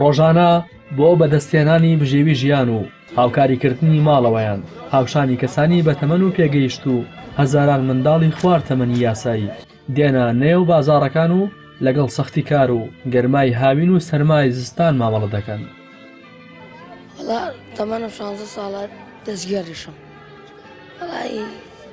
ڕۆژانە بۆ بەدەستهێنانی بژێوی ژیان و هاوکاریکردنی ماڵەوەیان هاوشانی کەسانی بەتەمەن و پێگەیشتوو هەزاران منداڵی خوار تەمەنی یاسایی دێنە نێو بازاڕەکان و لەگەڵ سەختی کار و گەرمای هاوین و سەرمای زستان مامەڵە دەکەن تەمەنم شانزە ساڵە دەستگێڕیشم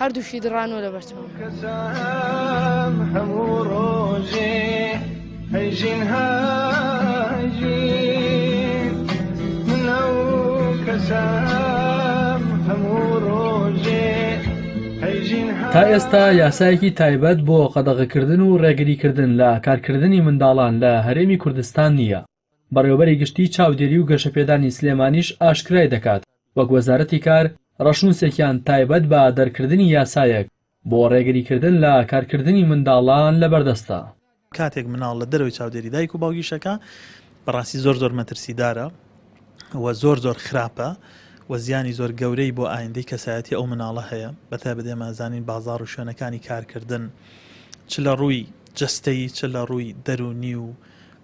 هەردووکی دڕانوە لە بەرچاوم. تا ئێستا یاسایەکی تایبەت بۆ قەدەغەکردن و ڕێگریکردن لە کارکردنی منداڵان لە هەرێمی کوردستان نییە، بەڕێوەبەری گشتیی چاودێری و گەشەپێدانی سلێمانیش ئاشکرای دەکات، وەک وەزارەتی کار، ڕەشنووسێکیان تایبەت بە دەرکردنی یاسایەک بۆ ڕێگریکردن لە کارکردنی منداڵان لەبەردەستە. کاتێک مناڵ لە دەرەوەی چاودێری دایک و باوکی شەکا بەڕاستی زۆر زۆر مەترسیدارە و زۆر زۆر خراپە و زیانی زۆر گەورەی بۆ ئایندەی کەسایەتی ئەو مناڵە هەیە بەتایبەت ئێمە ئەزانین بازاڕ و شوێنەکانی کارکردن چ لە ڕووی جەستەیی چ لە ڕووی دەروونی و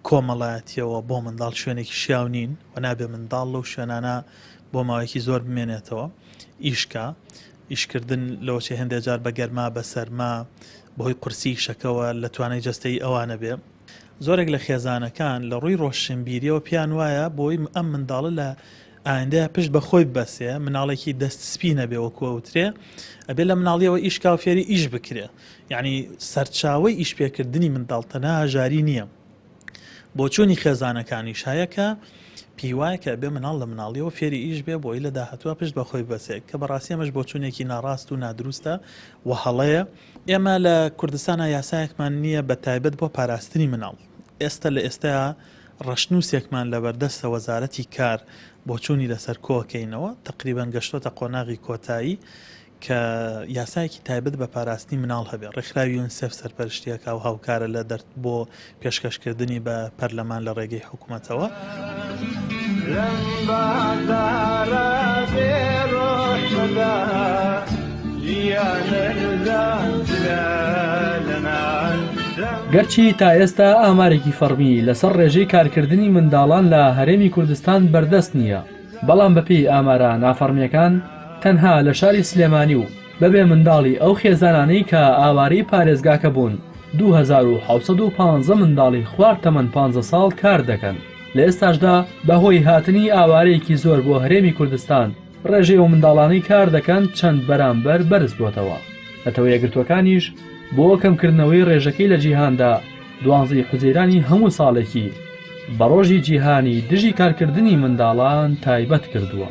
کۆمەڵایەتییەوە بۆ منداڵ شوێنێکی شیاو نین و نابێ منداڵ لەو شوێنانە بۆ ماوەیەکی زۆر بمێنێتەوە ئیشکە ئیشکردن لەوەچێ هەندێک جار بە گەرما بە سەرما بەهۆی قورسی شەکەوە لە توانای جەستەی ئەوانە بێ زۆرێک لە خێزانەکان لە ڕووی ڕۆشنبیریەوە پیان وایە بۆی ئەم منداڵە لە ئایندەیە پشت بە خۆی بەسێ مناڵێکی دەست سپی نەبێ وەکوەوترێ ئەبێ لە مناڵیەوە ئیشکاو فێری ئیش بکرێ یانی سەرچاوەی ئیشپێکردنی منداڵ تەنها هەژاری نییە بۆچوونی خێزانەکانیش هەیە کە پیوایە کە بێ مناڵ لە مناڵیەوە فێری ئیش بێ بۆی لە داهتووە پشت بەخۆی بەسێک کە بەڕاستی ئەمەش بۆچوونێکی ناڕاست و نادروستە و هەڵەیە ئێمە لە کوردستانە یاسایەکمان نییە بە تایبەت بۆ پاراستنی مناڵ ئێستا لە ئێستا ڕەشنووسێکمان لە بەردەستە وەزارەتی کار بۆچوونی لەسەر کۆکەینەوە تقریبان گەشتۆتە قۆناغی کۆتایی کە یاسایەکی تایبەت بە پاراستنی مناڵ هەبێت، ڕێکخراوی یونسێف سەرپەرشتییەکا و هاوکارە لە دەرت بۆ پێشکەشکردنی بە پەرلەمان لە ڕێگەی حکومەتەوە. گەرچی تا ئێستا ئامارێکی فەڕمی لەسەر ڕێژەی کارکردنی منداڵان لە هەرێمی کوردستان بەردەست نییە، بەڵام بەپێی ئامارە نافەڕمییەکان تەنها لە شاری سلێمانی و بەبێ منداڵی ئەو خێزانانەی کە ئاوارەی پارێزگاکە بوون دوو هەزار و حەوت سەد و پانزە منداڵی خوار تەمەن پانزە ساڵ کار دەکەن لە ئێستاشدا بەهۆی هاتنی ئاوارەیەکی زۆر بۆ هەرێمی کوردستان ڕێژەی ئەو منداڵانەی کار دەکەن چەند بەرامبەر بەرز بۆتەوە نەتەوە یەکگرتووەکانیش بۆ کەمکردنەوەی ڕێژەکەی لە جیهاندا دوانزە ی حوزەیرانی هەموو ساڵێکی بە ڕۆژی جیهانی دژی کارکردنی منداڵان تایبەت کردووە.